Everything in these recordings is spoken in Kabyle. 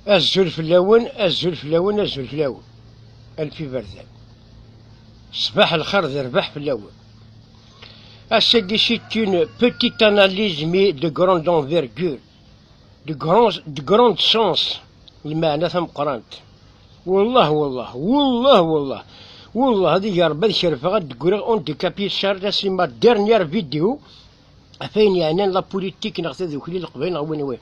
Azul fell-awen, azul fell-awen, azul fell-awen. Alef iberdan. Ṣbaḥ lxir d rrbeḥ fell-awen. Ass-agi c'est une petite analyse mais de grande envergure, de grand, de grand sens, lmeɛna tameqqrant. Wallah, wallah, wallah, wallah, wallah, ad iger Rebbi ad kerfeɣ ad d-greɣ on décapit Charles, c'est ma dernière vidéo, ɣef ayen yeɛnan la politik neɣ tadukli leqbayel neɣ win win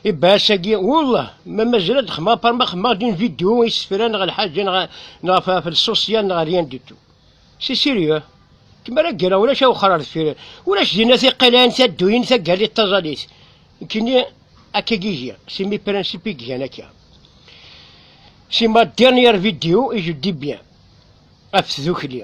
ibaas-agi wallah ma mazal ad xemmeɣ par ma xemmeɣ din vidéo isefra neɣ lḥaǧa neɣ neɣ ɣef lsosiyal neɣ rien du tout si sérieux kem ara ggreɣ ulac awexxer ar deffir ulac dinna tiqilayin tadduyin tagalit taẓalit kini akka gigi si mi principe i gan akka si ma dernière vidéo i je dis bien ɣef tdukli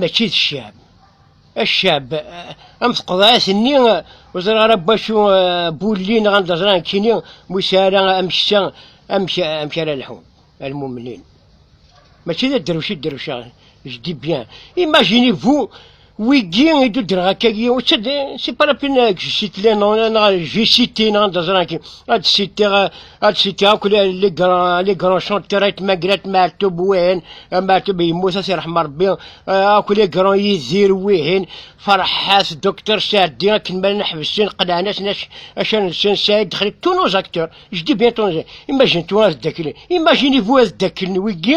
mačči d ccab ccab am teqḍeɛt-nni ur ẓriɣ ara n wacu bulli neɣ anda ẓriɣ nekkini mi ur sɛiɣ ara ameksa amek amek ara lḥun almumnin mačči d adderwec i dderwceɣ je dis bien imaginez vous wigi i d-uddreɣ akka gi c'est pas la peine que je cite les noms neɣ je cite neɣ anda ẓriɣ nekkini ad citeɣ ad cikka akk li granchant kra itmagrat maɛtub wihin maɛtub yemmut ad t-irḥem Rebbi akk li gran yidir wihin farḥat docteur Saɛdi akken ma llan ḥebsen qelɛen-asen acan-nsen Saɛid Dexli tous nos acteurs je dis bien tous imagine-toi ad daklen imagine-vous ad daklen wigi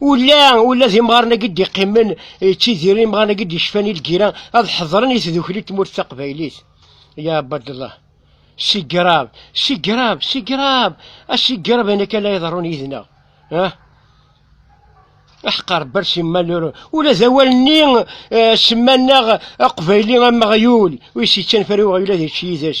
Ula, ula d imɣaren-agi d-iqqimen, ttidiren imɣaren-agi d-yecfan i lgira, ad ḥedren i tdukli n tmurt taqbaylit. Ya Abadallah. Sigrab, sigrab, sigrab, asigrab ayen akka la iḍerrun yid-neɣ. Ah? Aḥqar bar simmal ula d awal-nni eh, semman-aɣ aqbayli am uɣyul, wis yettanfar i uɣyul ad yečč yid-s.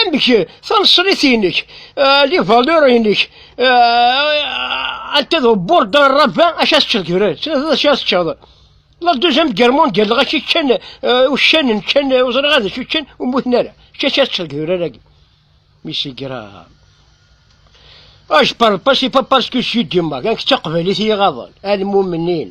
amek taneṣrit-inek euh, les valeurs-inek euh, anta d bord un rabbin acu as teččeḍ kibran acu as teččeḍ la deuxième guerre mondiale dɣa ci ččan euh, uccanen ččan ur ẓriɣ ad acu ččan ur mmuten ara acu as teččeḍ kibran-agi mi si grave ah je parle pas c'est pas parce que je suis du Maroc nek d taqbaylit i y-iɣaḍen almumenin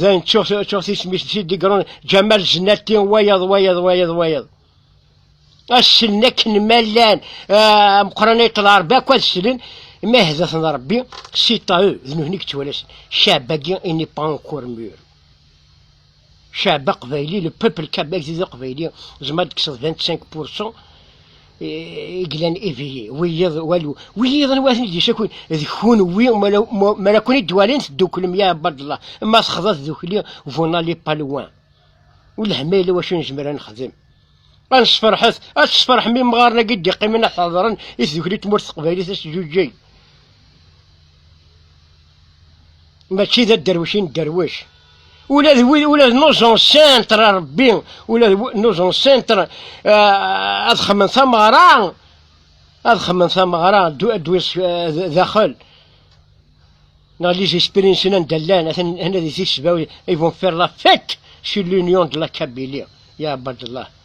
dayen ttuɣ ttuɣ tismis d tidigron ǧamal zennati wayeḍ wayeḍ wayeḍ wayeḍ assen akken ma llan meqran iṭṭel rebbi akk ad slen ma hdat n rebbi si tahu d nutni yettwalasen cabagi ini pan kurmur cab aqbayli le peuple kabag d aqbayli zma d-kseḍ 25 pourcent glan ibili wiyiḍ walu wiyiḍ n waten d-yesakun d kunwi ma la kun-id-walin tedduklem ya abadallah ma texḍa tdukli vuna li palwan u lehmayla wacu nezmer ad nexdem ad nesferḥet ad tesferḥem imɣaren-agi d-iqqimen ad ḥadren i tdukli tmurt teqbaylit ad s-ǧuǧǧeg mačči d adderwec i nedderwec ula d wid ula d nuẓen sentre Rebbi ula d nuẓen sentre eh, ad xemmen tameɣra ad xemmen tameɣra ad wis eh, daxel dans les expériences d'Allah, ils vont faire la fête sur l'union de la Kabylie. Ya Abdallah.